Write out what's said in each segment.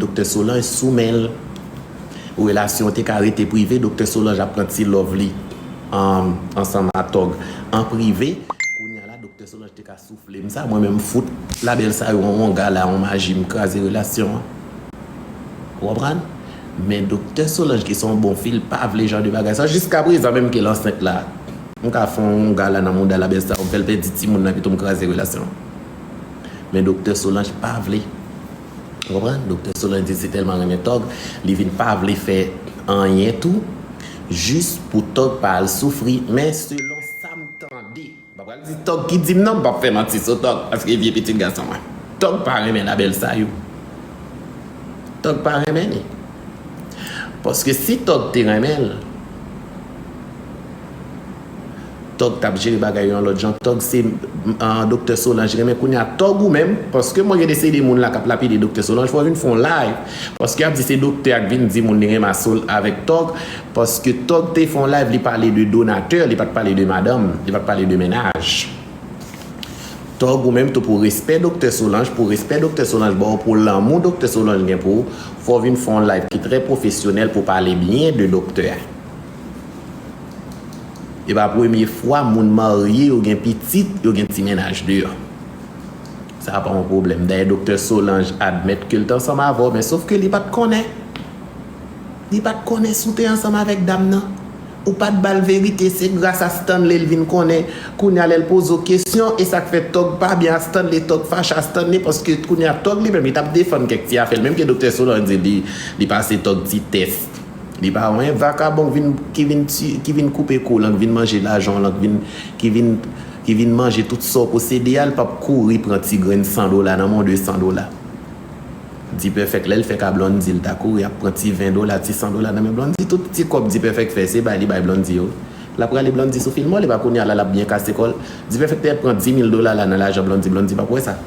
Doktè Solange sou men l. Relasyon an te ka rete prive Doktè Solange ap pran ti love li ansanm a Tòg an prive Kounya la Doktè Solange te ka soufle m sa mwen menm m fout label sa yo yon wonga la yon maji m kraze relasyon an Ou konprann Men Doktè Solange ki se yon bon fi l pa vle jan de bagay sa yo jiska prezan menm ke l ansent la m ka fon yon wonga la nan mouda label sa yo m fè l pèdi timoun nan pito m kraze relasyon an Men Doktè Solange pa vle. Ou konprann? Doktè Solange se tèlman renmen Tòg, li vin pa vle fè anyen tou jis pou Tòg pa al soufri, men selon sa m tande, m pa pral di Tòg ki di m non, m pap fè manti sou Tòg paske vye pitit gason mwen. Tòg pa renmen La Belle Sayou. Tòg pa renmen li. Paske si Tòg te renmen l. Tòg tap jere bagay yo yon lòt jan tòg se Doktè Solanj renmen kounya tòg ou menm paske mwen gen de seri moun la kap lapide Doktè Solanj fò vin fon live paske yap di se Doktè ak vin di moun li renmen asol avèk tòg paske tòg te fon live li pale de donatè li pat pale de madanm li pat pale de mennaj tòg ou menm tou pou respè Doktè Solanj pou respè Doktè Solanj baw pou lanmou Doktè Solanj gen pou ou fò vin fon live ki trè pwofesyonèl pou pale byen de Doktè. E pa premye fwa moun marye yo gen pitit yo gen ti mennaj deyò. Sa pa yon pwoblèm. Dayè doktè Solange admèt ke li te ansanm avè w men sof ke li pa t konnen. Li pa t konnen si w te ansanm avèk dam nan. Ou pa t ba l verite. Se gras a Stanley li vin konnen. Kounye a lè l poze w kesyon e sa k fè Tòg pa byen a Stanley, Tòg fache a Stanley paske kounye a Tòg li menm li t ap defann kèk ti afè li menm ke doktè Solange di li pase Tòg ti tès. Li pa wè yon vakabon ki vin ti, ki vin koupe kou w lan, ki vin manje lajan w lan, ki vin, ki vin manje tout sa w posede a, li pap kouri pran ti grenn san dola nan men w, de san dola. Dipèfèk lè l fè ka Blondy, li ta kouri ap pran ti ven dola, ti san dola nan men Blondy. Tout ti kòb Dipèfèk fè, se bay li bay Blondy yo wi. L ap rale Blondy sou fil mò l, e pa kounye a la l ap byen kase kò l. Dipèfèk te pran dimil dola la nan lajan Blondy, Blondy pap wè sa.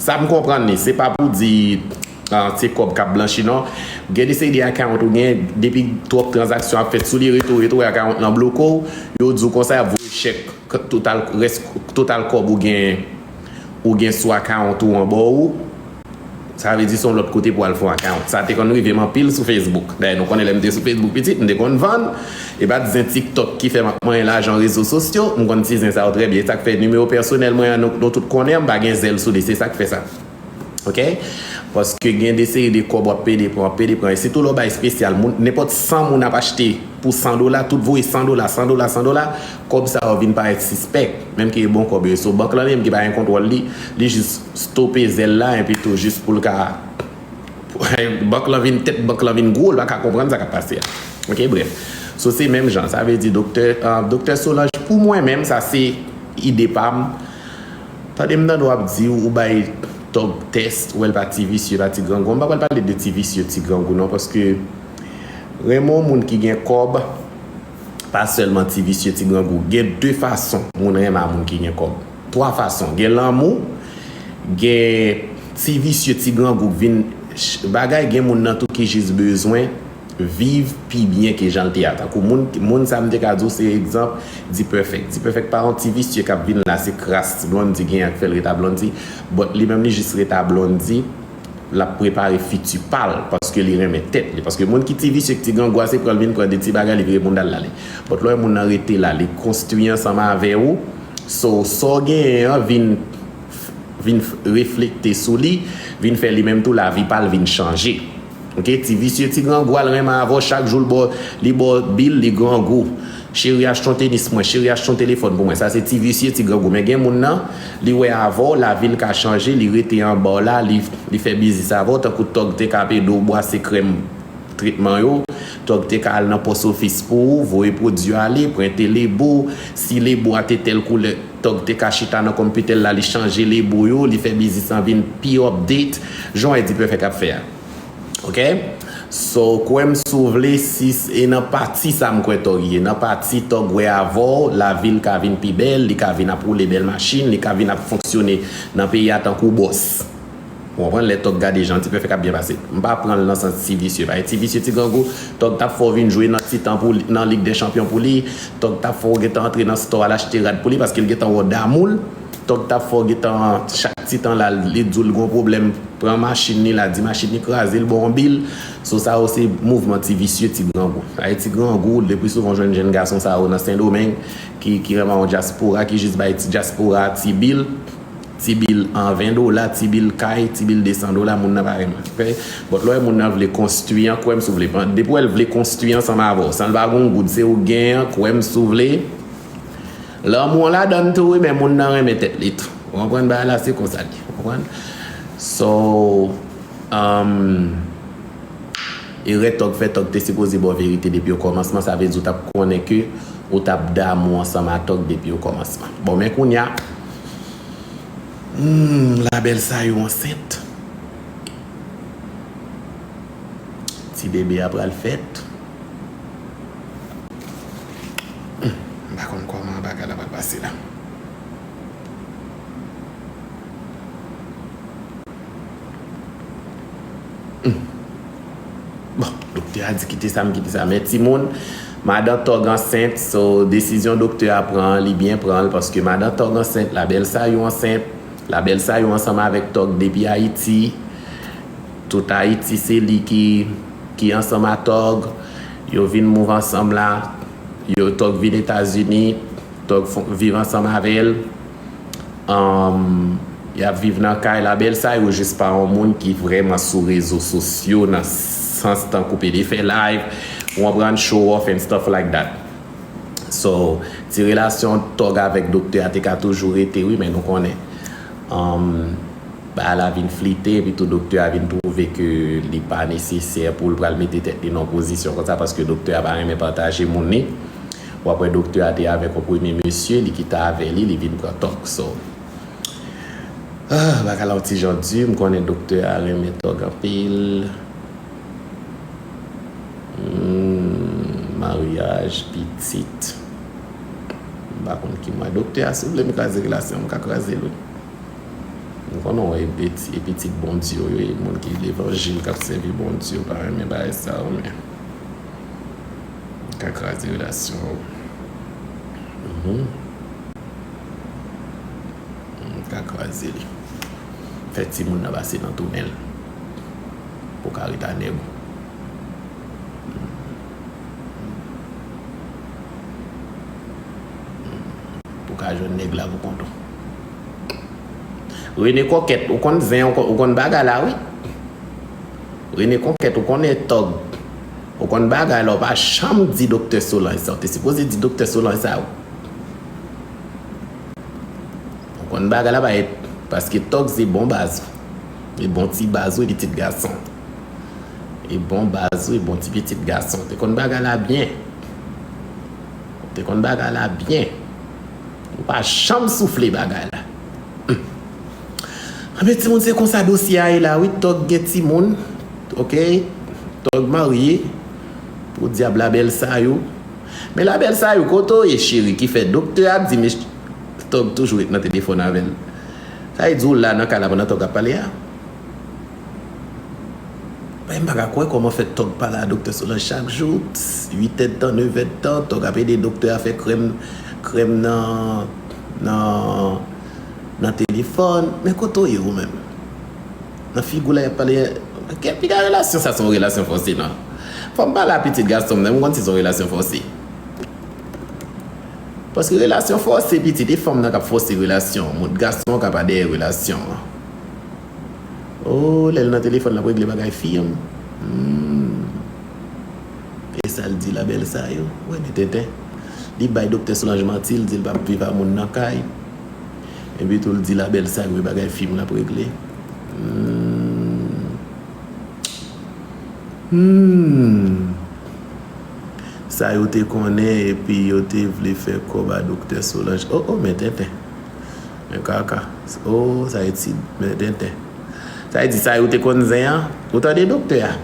Sa m konprann li, se pa pou di se kòb k ap blanchi non. Gen de seri de akawont ou gen, depi twòp tranzaksyon ap fèt sou li, rete w rete w wè akawont lan bloke w, yo di w konsa y ap voye chèk total rès total kòb ou gen ou gen sou akawont ou an ba ou. Sa vle di se yon lòt kote pou w al fè yon akawont. Sa te konn rive m anpil sou Facebook. Dayè nou konnen lè m te sou Facebook pitit, m te konn vann. E pa t zen tiktok ki fè m ap manyen lajan rezo sosyo, m konn ti zen sa yo trè byen, e sa k fè nimewo pèsonèl mwen an nou tout konnen an m pa gen zèl sou li, se sa k fè sa ok, paske gen de seri de kòb w ap pede pran, w ap pede pran, e sitou lè w bay espesyal, moun nenpòt 100 moun ap achte pou 100 dola, tout voye 100 dola, 100 dola, 100 dola, kòb sa yo vin parèt sispèk, menm ke e bon kòb yo ye, so bank lan li menm ki pa gen kontwòl li, li jis stope zèl la enpi tou jis pou l ka Bank lan vin tèt bank lan vin gwo l pa ka konprann sa k ap pase a ok brèf so se menm jan sa vle di doktè doktè Solange pou mwen menm sa se ide pa m tande m tande w ap di ou bay Tòg tès ou wè l pa ti visye pa ti grangou an m pa pral pale de ti visye ti grangou non paske renmen w moun ki gen kòb pa sèlman ti visye ti grangou gen de fason moun renmen a moun ki gen kòb. 3 fason gen lanmou gen ti visye ti grangou k vin bagay gen moun nan tou ki jis bezwen viv pi byen ke janl te a tankou moun moun sa m te ka di w se egzanp D-perfect D-perfect pa yon ti visye kap vin la se kras Blondy genyen k fèl ret a Blondy but li menm li jis ret a Blondy lap prepare fiti pal paske li renmen tèt li paske moun ki ti visye k ti grangou a se pranl vin pran de ti bagay li vire boundal l ale but lè w wè moun nan rete la li konstwi ansanm avè w So, sa w genyen an vin vin reflekte sou li, vin fè li menm tou lavi pa l vin chanje. Ok, ti visye ti grangou al renmen avè w chak jou l ba w li ba w bill li grangou. Cheri achte yon tenis pou mwen, cheri achte yon telefòn pou mwen. Sa se ti visye ti grangou. Men gen moun nan, li wè avè w lavi l ka chanje, li rete anba w la, li li fè biznis avè w tankou tòg te ka ap ede w bwase krèm. Tretman yo, Tòg te ka al nan pòs ofis pou ou, voye pwodui yo ale, prente lebo. Si lebo a te tèl koulè, Tòg te ka chita nan konpitè l la, li chanje lebo yo, li fè biznis lan vin pi update, jan w wè Dpèfèk ap fè a. Ok. Sa w kwè m si w vle, si s e nan pati sa m kwè Tòg ye, nan pati Tòg wè avè w, lavi l ka vin pi bèl, li ka vin ap woule bèl machin, li ka vin ap fonksyone nan peyi a tankou bòs. Ou konprann lè tòg gade jan ti pèfèk ap byen pase m pa pranl nan sans ti visye pa ti visye ti grangou tòg tap fè w vin jwe nan titan pou li nan lig dè chanpyon pou li tòg tap fè w gentan antre nan stò al achte rad pou li paske l gentan wè w damou l tòg tap fè w gentan chak titan lal li di w l gon pwoblèm pran machin li la di machin li kraze l ba w yon bil so sa yo se mouvman ti visye ti grangou sa e ti grangou le pli souvan w jwenn jenn gason sa yo nan sendomeng ki ki rema yon dyaspora ki jis bay ti dyaspora ti bil. Ti bil an 20 dola, ti bil kay, ti bil 200 dola, moun nan pa renmen respè. But lè w wè moun nan vle konstwi an, kwè m si w vle, depi w wè l vle konstwi ansanm avè w san l pa gen yon goud se ou k genyen an, kwè m si w vle, lanmou an ladan l tou wi men moun nan renmen tèt li tou. Ou konprann bagay la? Se konsa l ye. Ou konprann? So, umm, erè tòg fè, tòg te sipoze ba w verite depi okòmansman, sa vle di ou t ap konnen ke ou t ap damou ansanm a tòg depi okòmansman. Bon men kounya. Humm la belle sa yo ansent. Ti bebe a pral fèt. Humm m pa konn koman bagay la pral pase la. Bon, doktè a di kite sa m kite sa men timoun, madan Tòg ansent so desizyon doktè a pran an li byen pran l paske madan Tòg ansent, Labèl Sayou ansent, Labèl Sayou ansanm avèk Tòg depi Ayiti, tout Ayiti se li ki ansanm a Tòg, yo vin move ansanm la, yo Tòg vin Etazini, Tòg viv ansanm avè l. Humm yap viv nan kay la bèl sa yo jis pa yon moun ki vrèman sou rezo sosyo nan sans tankou pede fè live ou konprann show off and stuff like that so ti relasyon tòg avèk doktè a te ka toujou rete wi men nou konnen humm bagay la vin flite epi tou doktè a vin twouve ke li pa nesesè poul pral mete tèt li nan yon pozisyon konsa paske doktè a pa renmen pataje moun li. Ou ap wè doktè a te avèk yon premye mesye, li kite avè li, li vin pran tòg. So, ah, bagay la yon ti jan di. M konnen doktè a renmen tòg anpil. Humm, maryaj, pitit. M pa konn ki mwa. Doktè a, si w vle m kraze relasyon an, m ka kraze l wi. M konnen w e pitit Bondye w ye, moun ki levanjil, k ap sèvi Bondye, w pa renmen bagay sa yo men. Li ka kraze relasyon ou. Li ka kraze li. Fè timoun nan pase nan tou nenl. Pou ka ret a nèg ou. Pou ka jwenn nèg la pou kont ou. Rene kòkèt ou konn zen ou konn bagay la wi. Rene kòkèt ou konnen tòg. Ou konn bagay la ou pa janm di doktè solanj sa ou te sipoze di doktè solanj sa ou konn bagay la bay paske tòg se bon baz ou e bon ti baz ou e pitit gason e bon baz ou e bon ti pitit gason ou te konn bagay la byen ou te konn bagay la byen ou pa janm soufle bagay la humm. Anben timoun se konsa dosye a ye la wi tog gen timoun ok tog marye podyab la bèl sa yo men la bèl sa yo kote w ye cheri ki fè doktè ap di mesye tog toujou ret nan telefòn avèl sa vle di ou la nan kay la pandan tog ap pale a men m pa ka kwè kòman fè tog pale a doktè solanj chak jou 8 èdtan 9 èdtan tog ap ede doktè a fè krèm krèm nan nan. Nan telefòn, men kote w ye ou menm? Nan figi w lè y ap pale a Piga relasyon sa se yon relasyon fòse nan Fò m pale a pitit gason m nan m konn si se yon relasyon fòse Paske relasyon fòse pitit e fanm nan k ap fòse relasyon moun Gason an ka pa dèyè relasyon an O lè l nan telefòn l ap regle bagay fi an Humm. Esal di la bèl sa yo wè de tenten li bay doktè solanj manti li dil pap viv a moun nan kay epi tou li di la bèl sa yo e bagay fim lap regle huuumm sa yo te konnen epi yo te vle fè kòb a doktè solanj oh oh men tenten men kaka oh sa etid men tenten sa yo te konn zen an ou tande doktè a.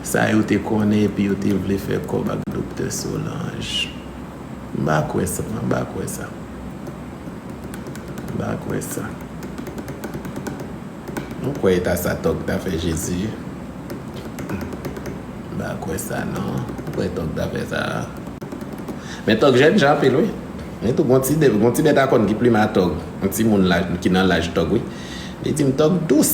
Sa yo te konnen epi yo te vle fè kòb ak Doktè Solanj. M pa kwè sa, mwen pa kwè sa. M pa kwè sa. M kwè e ta sa Tòg ta fè Jezi. M pa kwè sa non. M kwè Tòg ta fè sa. Men Tòg jèn jan anpil wi. Li tou gon ti bètakòn ki plimen a Tòg. Yon timoun ki nan laj Tòg wi. Li di m Tòg dous.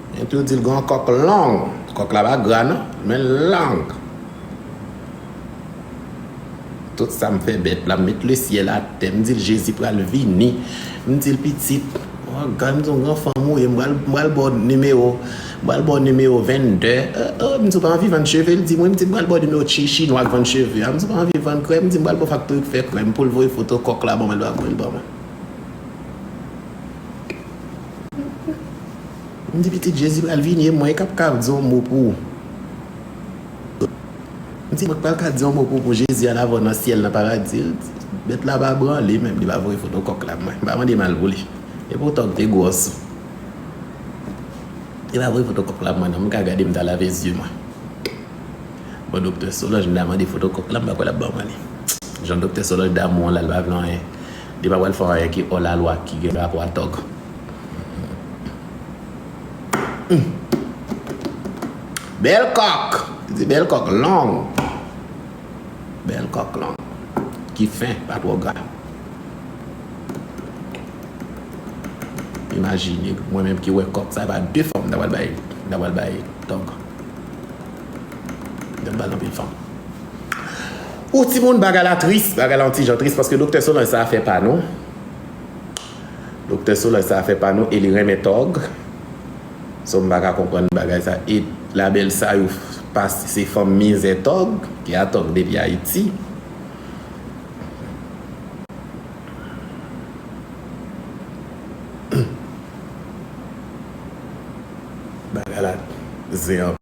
Epi w di l gen yon kòk long. Kòk la pa gra non, men l long. Tout sa m fè bèt la, m met lesyèl atè, m di l Jezi pral vini. M di l pitit, w gad m di w m gran fanm ou ye, m pral ba w nimewo, m pral ba w nimewo 22. O, m di w pa anvi vann cheve? L di m wi. M di l m pral ba w nimewo chi chinwa k vann cheve a. M di w pa anvi vann krèm? M di l m pral ba w faktori k fè krèm pou l voye foto kòk la ban mwen, l pa voye l ban mwen. M di pitit jezi pral vini e mwen kap ka di yon mo pou m di mwen pral ka di yon mo pou jezi al avèw nan syèl nan paradi l di bèt la pa branle menm li pa voye foto kòk la mwen pa mande mal pou li e poutan m te gwòs li pa voye foto kòk la mwen non m ka gade m ta lave zye mwen bon doktè solanj m ta mande foto kòk la m pa kwè lap ban mwen li jan doktè solanj damou an la l pa vle anyen. Li pa pral fè yon bagay ki ò la lwa ki gen rapò a tòg. Bèl kòk! Li di bèl kòk long. Bèl kòk long. Ki fen, pa twò gra. Imajine, mwen menm ki wè kòk sa e pa de fanm m ta pral bay, m ta pral bay tòg. M ta pral bay anpil fanm. Ooh timoun bagay la tris. Bagay la yon ti jan tris paske Doktè Solange sa fè pa nou. Doktè Solange sa fè pa nou e li renmen tòg. So m paka konprann bagay sa e labèl sa yo pa se fanm mizè tòg ki a tòg depi Ayiti. Bagay la zen anpil.